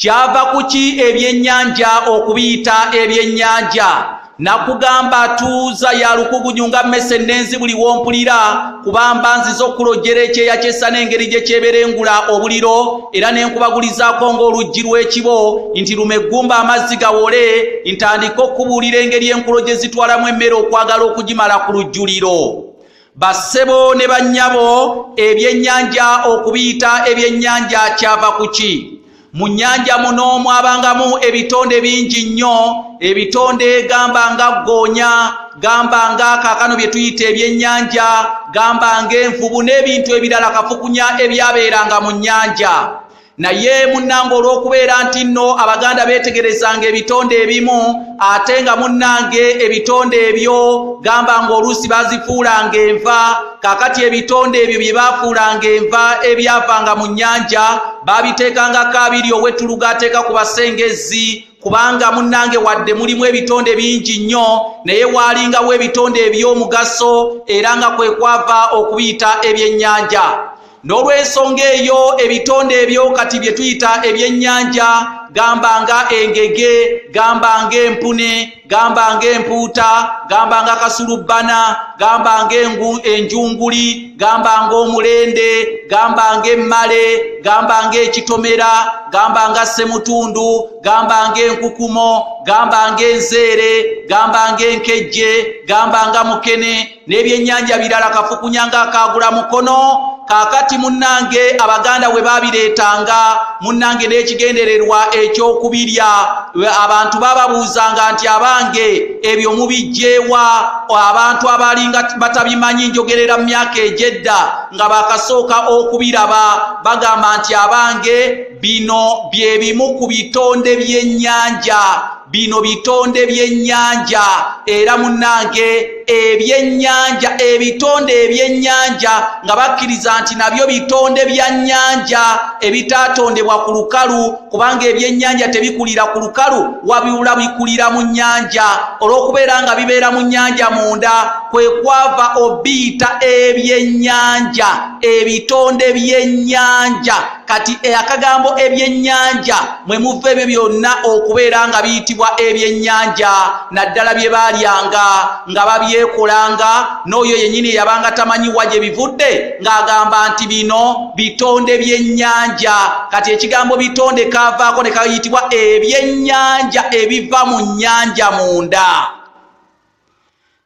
kyava kuki ebyennyanja okubiyita ebyennyanja nakugamba tuuza ya lukugunyu nga mmese ennenzi buli wompulira kubamba nziza okulojjera ekyeya kyessa n'engeri gye kyeberengula obuliro era ne nkubagulizaako ng'oluggi lw'ekibo nti luma eggumba amazzi gawole ntandike okukubuulira engeri enkulo gye zitwalamu emmere okwagala okugimala ku lujjuliro bassebo ne bannyabo ebyennyanja okubiyita ebyennyanja kyava ku ki mu nnyanja muno mwabangamu ebitonde bingi nnyo ebitonde gamba nga ggoonya gamba nga kaakano bye tuyita ebyennyanja gamba ng'envubu n'ebintu ebirala kafukunya ebyabeeranga mu nnyanja naye munnange olw'okubeera nti nno abaganda beetegerezanga ebitonde ebimu ate nga munnange ebitonde ebyo gamba ng'oluusi bazifuulanga enva kakati ebitonde ebyo bye baafuulanga enva ebyavanga mu nnyanja baabiteekangako abiri ow'ettuluga ateeka ku basengezzi kubanga munnange wadde mulimu ebitonde bingi nnyo naye waalingawo ebitonde eby'omugaso era nga kwe kwava okubiyita ebyennyanja n'olw'ensonga eyo ebitonde ebyo kati bye tuyita ebyennyanja gamba nga engege gamba nga empune gamba nga empuuta gamba nga kasulubbana gamba nga enjunguli gamba nga omulende gamba nga emmale gamba nga ekitomera gamba nga ssemutundu gamba nga enkukumo gamba nga enzeere gamba nga enkejje gamba nga mukene n'ebyennyanja birala kafukunya ng'akaagula mukono kaakati munnange abaganda we babireetanga munnange n'ekigendererwa eky'okubirya abantu bababuuzanga nti abange ebyo mubijjeewa abantu abalinga batabimanyi njogerera mu myaka egyedda nga bakasooka okubiraba bagamba nti abange bino bye bimu ku bitonde by'ennyanja bino bitonde byennyanja era munnange ebyennyanja ebitonde ebyennyanja nga bakkiriza nti nabyo bitonde bya nnyanja ebitaatondebwa ku lukalu kubanga ebyennyanja tebikulira ku lukalu wabiula bikulira mu nnyanja olw'okubeera nga bibeera mu nnyanja munda kwe kwava obiyita ebyennyanja ebitonde byennyanja kati eh, akagambo ebyennyanja mwe muva ebyo byonna okubeera nga biyitibwa ebyennyanja naddala bye baalyanga nga babyekolanga n'oyo yennyini eyabanga tamanyi wa gye bivudde ng'agamba nti bino bitonde byennyanja kati ekigambo bitonde kaavaako ne kayitibwa ebyennyanja ebiva mu nnyanja munda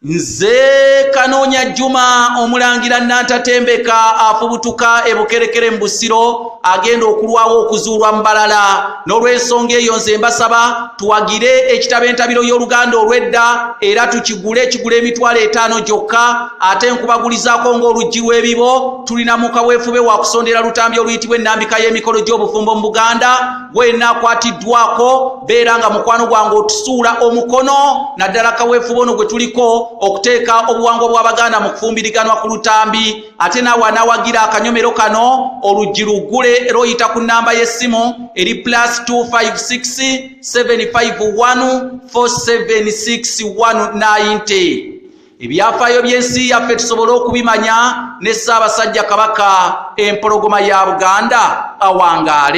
nze kanoonya juma omulangira nantatembeka afubutuka ebukerekere mu busiro agenda okulwawo okuzuulwa mu balala n'olwensonga eyo nze mbasaba tuwagire ekitabo entabiro y'oluganda olw'edda era tukigule kigula emitwalo etaano gyokka ate nkubagulizaako ng'oluggi lw'ebibo tulina mukaweefube wakusondera lutambi oluyitibwa ennambika y'emikolo gy'obufumbo mu buganda gwenakwatiddwako beera nga mukwano gwange otusuula omukono naddala kaweefuba ono gwe tuliko okuteeka obuwangwa bw'abaganda mu kufumbiriganwa ku lutambi ate naawe anawagira akanyomero kano oluggi luggule era oyita ku nnamba y'essimu eri plus 25675147619 ebyafaayo by'ensi yaffe tusobole okubimanya ne ssaabasajja kabaka empologoma ya buganda awangaale